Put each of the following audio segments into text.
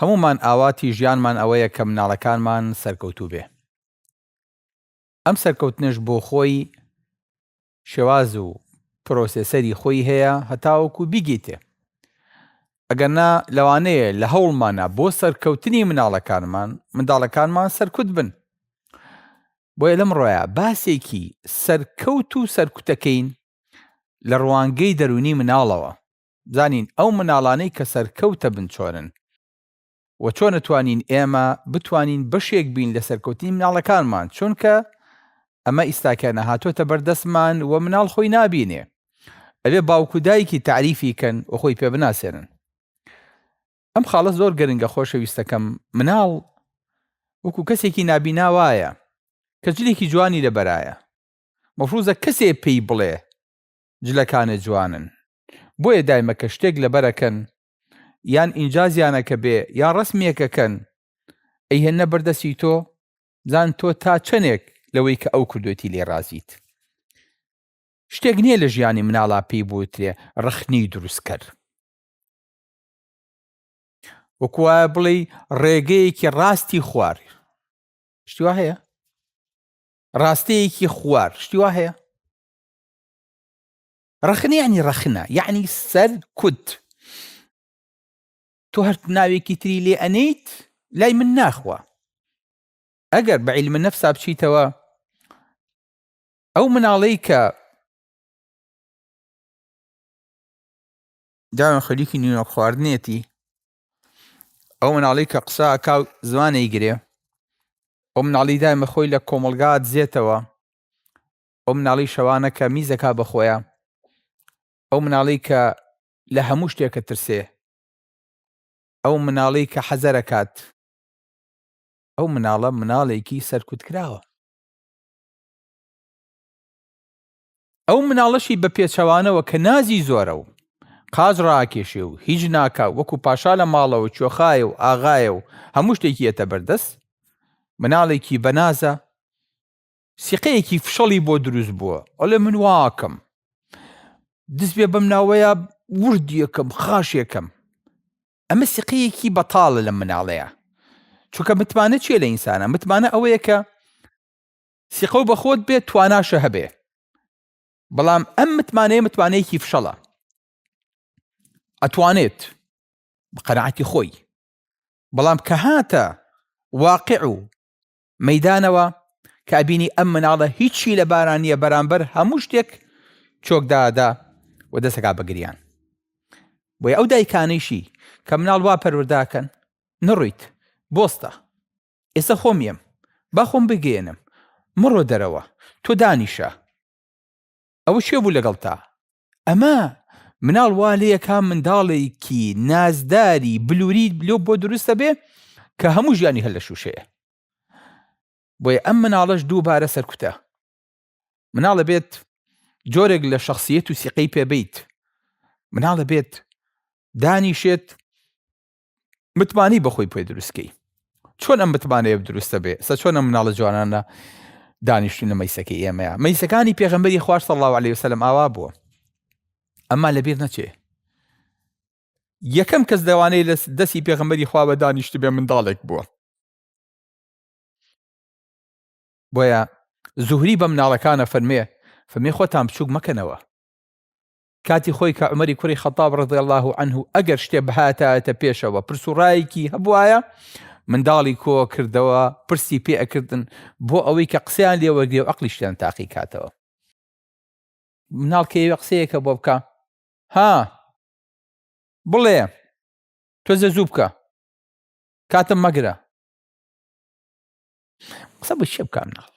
هەموومان ئاواتی ژیانمان ئەوەیە کە مناڵەکانمان سەرکەوتوو بێ ئەم سەرکەوتنەش بۆ خۆی شێواز و پرۆسێسەری خۆی هەیە هەتاوەکو بیگیتێ ئەگەر نا لەوانەیە لە هەوڵمانە بۆ سەرکەوتنی مناڵەکانمان منداڵەکانمان سەرکوت بن بۆیە لەم ڕۆیە باسێکی سەرکەوت و سەرکوتەکەین لە ڕوانگەی دەرونی مناڵەوە زانین ئەو مناڵانەی کە سەرکەوتە بنچۆرن وە چۆنەتوانین ئێمە بتوانین بەشێک بین لە سەرکەوتنی مناڵەکانمان چونکە ئەمە ئیستاکیانە هاتۆتە بەر دەستمان وە مناڵ خۆی نابینێ ئەبێ باوکو دایکی تاریفی کەن وە خۆی پێ بناسێنن ئەم خاڵە زۆر گەرنگە خۆشەویستەکەم مناڵ وەکو کەسێکی نابینا وایە کە جلێکی جوانی لەبەرایە مەفروزە کەسێ پێی بڵێ جلەکانێ جوانن بۆیە دایمە کە شتێک لەبەر ئەکەن یان ئینجازیانەکە بێ یان ڕەسمیەک ئەکەن ئەیهێننە بەر دەستی تۆ بزان تۆ تا چەنێک لەوەی کە ئەو کردوێتی لێ ڕازیت شتێک نییە لە ژیانی مناڵا پێی بوترێ ڕەخنی دروستکەر وەکوە بڵێ ڕێگەیەکی ڕاستی خوار شتیوا هەیە ڕاستەیەکی خوار شتیوا هەیە ڕەخنە یعنی ڕەخنە یعنی سەر کود تۆ هەر ناوێکی تری لێ ئەنیت لای من ناخوا ئەگەر بە عیلمە نەفسا بچیتەوە ئەو مناڵەی کە داوێن خەریکی نیوە خواردنێتی ئەو مناڵی کە قسە کاو زمانی گرێ ئەو مناڵی دایمە خۆی لە کۆمەلگات زێتەوە ئەو مناڵی شەوانە کە میز دەکا بە خۆیا ئەو مناڵی کە لە هەموو شتێکە ترسێ ئەو مناڵی کە حەزەرەکات ئەو مناڵە مناڵێکی سەرکوت کراوە ئەو مناڵەشی بە پێچەوانەوە کە نازی زۆرە و قاز ڕاکێشێ و هیچ ناکا وەکو پاشا لە ماڵەوە چۆخایە و ئاغایە و هەموو شتێکی یەتە بەردەست مناڵێکی بەنازە سیقەیەکی فشەڵی بۆ دروست بووە ئەڵێ من واکەم دز بێ بەم ناوەیە ورد یەکەم خاشێکەم ئەمە سیقەیەکی بەتاڵە لە مناڵەیە چونکە متمانە چیە لە ئینسانە متمانە ئەوەیە کە سیقە و بەخۆت بێت تواناشە هەبێ بەڵام ئەم متمانەیە متمانەیەکی فشەڵە ئەتوانێت بە قەرعاتی خۆی بەڵام کە هاتە واقع و مەیدانەوە کە ئەبینی ئەم مناڵە هیچی لە باران نییە بەرامبەر هەموو شتێک چۆکدادا و دەسەکە بەگریان بۆی ئەو دایکانەیشی کە مناڵ وا پەروەرداکەن نڕیت بۆستە ئێستا خۆم یەم با خۆم بگەێنم مڕۆ دەرەوە تۆ دانیشە ئەوە شێ بوو لەگەڵ تا ئەمە مناڵ وا لە یەکان منداڵێکی نازداری بلووری لۆ بۆ دروستە بێ کە هەموو ژیانی هەر لە شووشەیە بۆیە ئەم مناڵەش دووبارە سەرکوتە مناڵە بێت جۆرێک لە شخصیت و سیقەی پێبیت مناڵە بێت دانیشێت متمانی بەخۆی پێ دروستکەی چۆن ئەم متمانەیە دروستە بێ سە چۆن ئەم مناڵە جوانانە دانیشتونە مەیسەکەی ئێمەیە مەیسەکانی پێغمبەری خوارد سەڵ الله عليه وسلم ئاوا بووە ئەمە لەبیر نەچێ یەکەم کەس دەوانەی لە دەستی پێغمبەری خوا بە دانیشت بێ منداڵێک بووە بۆیە زوهری بە مناڵەکانە فەرمێ فەرمی خۆتان بچووک مەکەنەوە کاتی خۆی کە عومەری کوڕی خەتاب ڕەضی اللە عنه ئەگەر شتێ بهاتایەتە پێشەوە پرس و ڕایەکی هەبوایە منداڵی کۆ کردەوە پرسی پێ ئەکردن بۆ ئەوەی کە قسەیان لێوەرگێ و عقلیشتیان تاقی کاتەوە مناڵ کە ئێوە قسەیەکە بۆ بکە ها بڵێ تۆزە زوو بکە کاتم مەگرە قسە بە چێ بکە مناڵ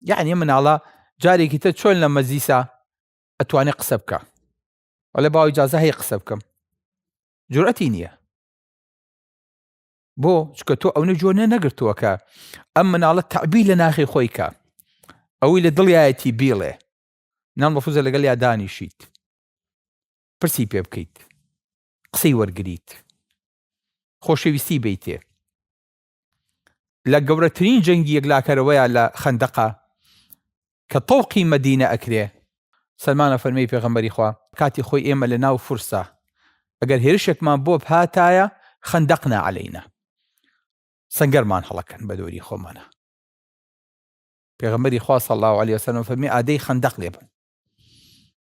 یعنی مناڵە جارێکی تر چۆن لە مەزیسا ئەتوانێ قسە بکە وەلە باوی جازە هەیە قسە بکەم جورەتی نییە بۆ چکە تۆ ئەونە جۆ نە نەگرتووە کە ئەم مناڵە تعبی لە ناخی خۆی کە ئەوەی لە دڵایەتی بیڵێ نام ڕفوزە لەگەڵ یا دانیشیت پرسی پێ بکەیت قسەی وەرگیت خۆشەویستی بیتێ لە گەورەترین جەنگی یەکلاکەرەوەیە لە خەندەقە کە تەوقی مەدینە ئەکرێ سەلمانە فەرمی پێغەمبەری خوا کاتی خۆی ئێمە لە ناو فرسا ئەگەر هێرشێکمان بۆ هاتایە خەندەقنا عەلەینا سنگەرمان هەڵەکەن بە دۆری خۆمانە پێغەمبەری خوا صلی الله علیه وسلم فەرمی ئادەی خەندەق لێبن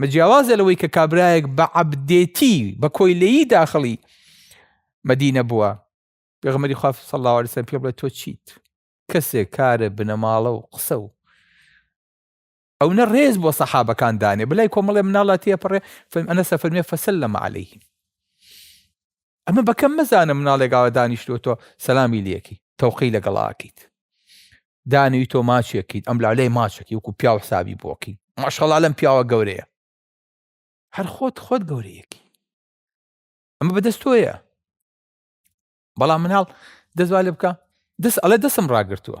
مە جیاوازە لەوەی کە کابرایەک بە عەبدێتی بە کۆیلەیی داخڵی مەدینە بووە پێغمەری خوا صلی الله عليه وسلم پێ بڵێ تۆ چیت کەسێک کارە بنەماڵە و قسە و ئەو نە ڕێز بۆ سەحابەکان دانێ بلای کۆمەڵێ مناڵە تێپەڕێ فەرم ئەنە سەفەرمێ فەسەل لەمە عليهلەیهیم ئەمە بە کەم مەزانە مناڵێک ئاوا دانیشتووە تۆ سەلامی لەکەی تەوقەی لەگەڵ ئاکەیت دانوی تۆ ماچێکیت ئەم لا لای ماچەکەی وەکو پیاو حسابی بۆکەی ماشەڵا لەم پیاوە گەورەیە هەر خۆت خۆت گەورەیەکی ئەمە بەدەست تۆیە بەڵام مناڵ دەزوا لێ بکە دەست ئەڵێ دەسم ڕاگرتووە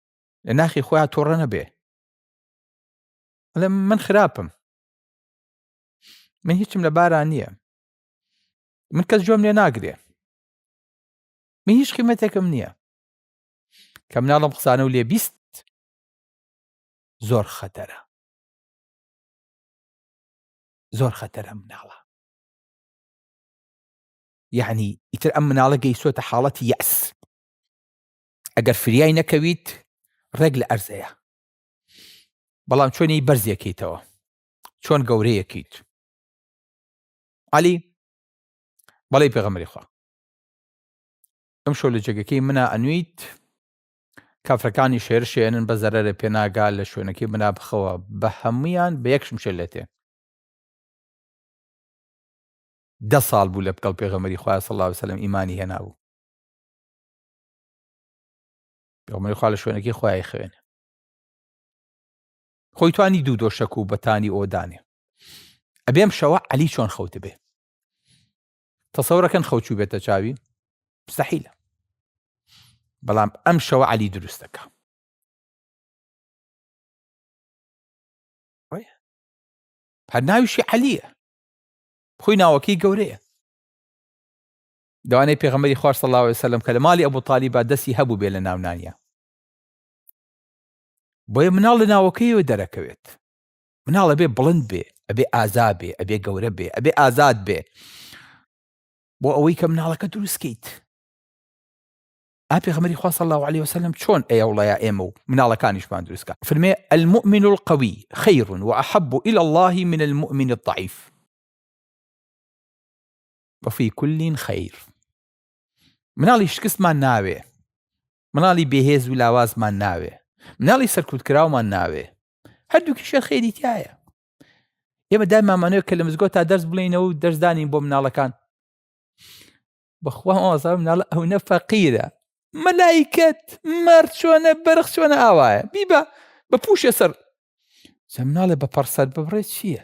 لە ناخی خۆیان تۆڕە نەبێ ئەڵێم من خراپم من هیچم لە باران نییە من کەس جۆم لێ ناگرێ من هیچ قیمەتێکم نییە کە مناڵم قسانە و لێ بیست زۆر خەتەرە زۆر خەتەرە مناڵە یعنی ئیتر ئەم مناڵە گەیسۆتە حاڵەتی یاس ئەگەر فریای نەکەویت ڕێک لە ئەرزەیە بەڵام چۆنی بەرزیەکەیتەوە چۆن گەورەیەکەیت علی بەڵی پێغەمەری خوا ئەم شۆ لە جێگەکەی منا ئەنویت کافرەکانی شێر شێنن بە زەرەرە پێناگا لە شوێنەکەی منا بخەوە بە هەمویان بە یەکشم شێ لێتێ دە ساڵ بوو لە بکەڵ پێغەمەری خخوای سەڵاو سەلم ئیمانی هێنابوو ئەومەی خوا لە شوێنەکەی خۆی خوێنێ خۆی توانی دوو دۆشەک و بەتانی ئۆدانێ ئەبێم شەوە علی چۆن خەوت بێ تەسەورەکەن خەوچوو بێتە چاوی مستحیلە بەڵام ئەم شەوە علی دروستەکە هەر ناویشی عەلیە خۆی ناوەکەی گەورەیە دانەی پێغەمبەری خوا صلی اللە علیە وسلم کە لە ماڵی ئەبو طالیبا دەستی هەبووبێ لە ناونانیا بۆیە مناڵ لە ناوەکەیەوە دەرەکەوێت مناڵ ئەبێ بڵند بێ ئەبێ ئازا بێ ئەبێ گەورە بێ ئەبێ ئازاد بێ بۆ ئەوەی کە مناڵەکە دروستکەیت ئاپێغمەری خوا صلی الله عليه وسلم چۆن ئەیەوڵەیە ئێمە و مناڵەکانیشمان دروستکە فرمێ المؤمن القوي خير وأحب إلى الله من المؤمن الضعيف وفی کل خیر مناڵی شکستمان ناوێ مناڵی بێهێز و لاوازمان ناوێ مناڵی سەرکوتکراومان ناوێ هەردووکی شێر خێری تایە ئێمە دایمامانەوە کە لە مزگۆ تا دەرس بڵێنەوە و دەرزدانین بۆ مناڵەکان بەخوا ئازار مناڵ ئەو نە فەقیرە مەلایکت مەر چۆنە بەرخ چۆنە ئاوایە بیبە بە پوشێ سەر سە مناڵێ بە پەرسەر ببڕێت چییە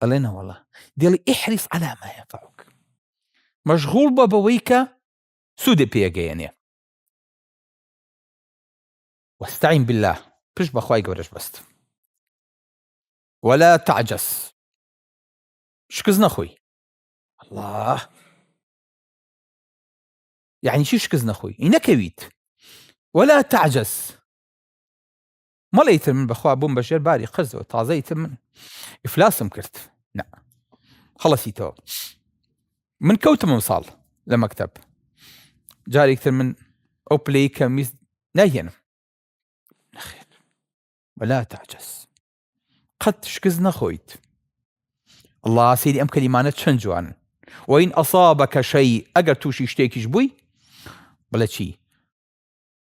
ئەڵێ نەوەڵا دێڵی ئیحریس عەلا ما یەنفەعوک مەشغوڵ بە بەوەی کە سوودێ پێگەیەنێ واستعین بالله پشت بەخوای گەورەش بەست ولا تعجز شکست نەخۆی الله یعنی چی شکست نەخۆی ئی نەکەویت ولا تعجز مەڵێ ئیتر من بەخوا بووم بە ژێر باری قەرزەوە تازە ئیتر من ئیفلاسم کرد نا خەڵەسیتەوە من کەوتم ئەم ساڵ لە مەکتب جارێکتر من ئەو پلەی کە میست ناهێنم نەخێر وەلا تاجەس قەت شکست نەخۆیت الله سیری ئەم کەلیمانە چەند جوانن وین ئەسا بە کەشەی ئەگەر تووشی شتێکیش بووی بڵێ چی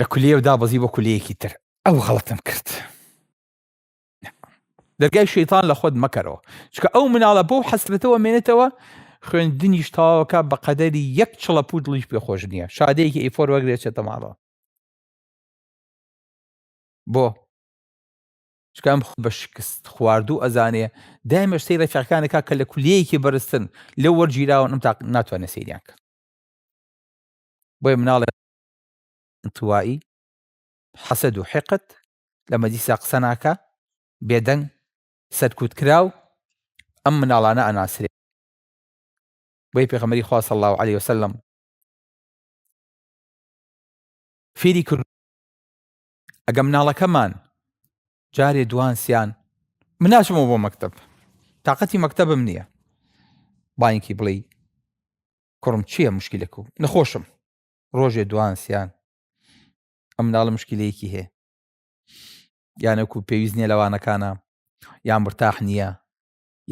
لە کولیە و دابەزی بۆ کولیەکی تر ئەو غەڵتم کرد دەرگای شەیتان لە خۆت مەکەرەوە چکە ئەو مناڵە بۆ حەسرەتەوە مێنێتەوە خوێندنیش تاوەکە بە قەدەری یەک چڵە پوو دڵیش پێ خۆش نییە شادەیەکی ئیفۆر وەگرێتێتە ماڵەوە بۆ چکام خود بە شکست خواردوو ئەزانێ دایمە سەی ڕێفەکانەکە کە لە کولیەیەکی بەرزتن لە وەرگیراون ئەم تا ناتوانێت سەیریان کرد بۆیە مناڵێ انطوایی حەسەد و حقد لە مەجلیسا قسە ناکا بێدەنگ سەرکوت کراو ئەم مناڵانە ئەناسرێ بۆی پێغەمەری خوا صلی الله علیه وسلم فێری کرد ئەگە مناڵەکەمان جارێ دوان سیان مناشمەوە بۆ مەکتب تااقەتی مەکتبم نییە باینکی بڵێ کوڕم چییە مشکیلەک و نەخۆشم ڕۆژێ دوان سیان ئەم ناڵە مشکیلەیەکی هەیە یانەکو پێویست نیە لەوانەکانە یان مرتاح نییە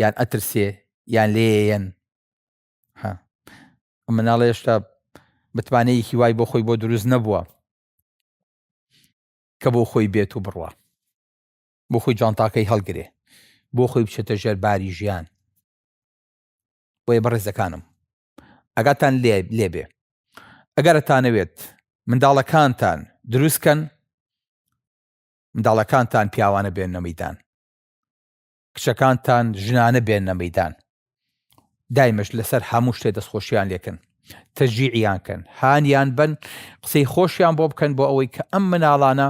یان ئەترسێ یان لێەن ئەم مناڵە هێشتا متمانەیەکی وای بۆ خۆی بۆ دروست نەبووە کە بۆ خۆی بێت و بڕوە بۆ خۆی جانتاکەی هەڵگرێ بۆ خۆی بچێتە ژێر باری ژیان بۆیە بەڕێزەکانم ئەگاتان لێ لێبێ ئەگەرتانەوێت منداڵەکانتان دروستکەن منداڵەکانتان پیاوانە بێن نەمەدان کچەکانتان ژنانە بێن نەمەدان دایمەش لەسەر هەموو شتێ دەستخۆشیان لێکن تەجیعیان کەن هانیان بن قسەی خۆشیان بۆ بکەن بۆ ئەوەی کە ئەم مناڵانە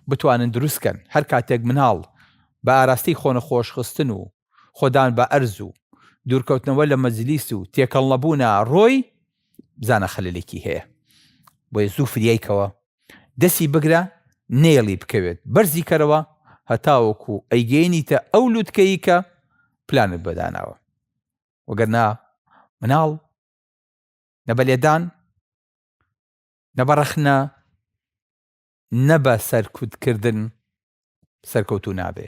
بتوانن دروستکەن هەر کاتێک مناڵ بە ئاراستی خۆنە خۆشخستن و خۆدان بە ئەرز و دوورکەوتنەوە لە مەجلیس و تێکەڵ نەبوونە رۆی بزانە خەلەلێکی هەیە بۆیە زوو فریای کەوە دەسی بگرە نێڵی بکەوێت بەرزی کەرەوە هەتاوەکو ئەیگەینیتە ئەو لوتکەی کە پلانت بەداناوە وەگەرنا مناڵ نە بە لێدان نە بە رەخنە نە بە سەرکوتکردن سەرکەوتو نابێ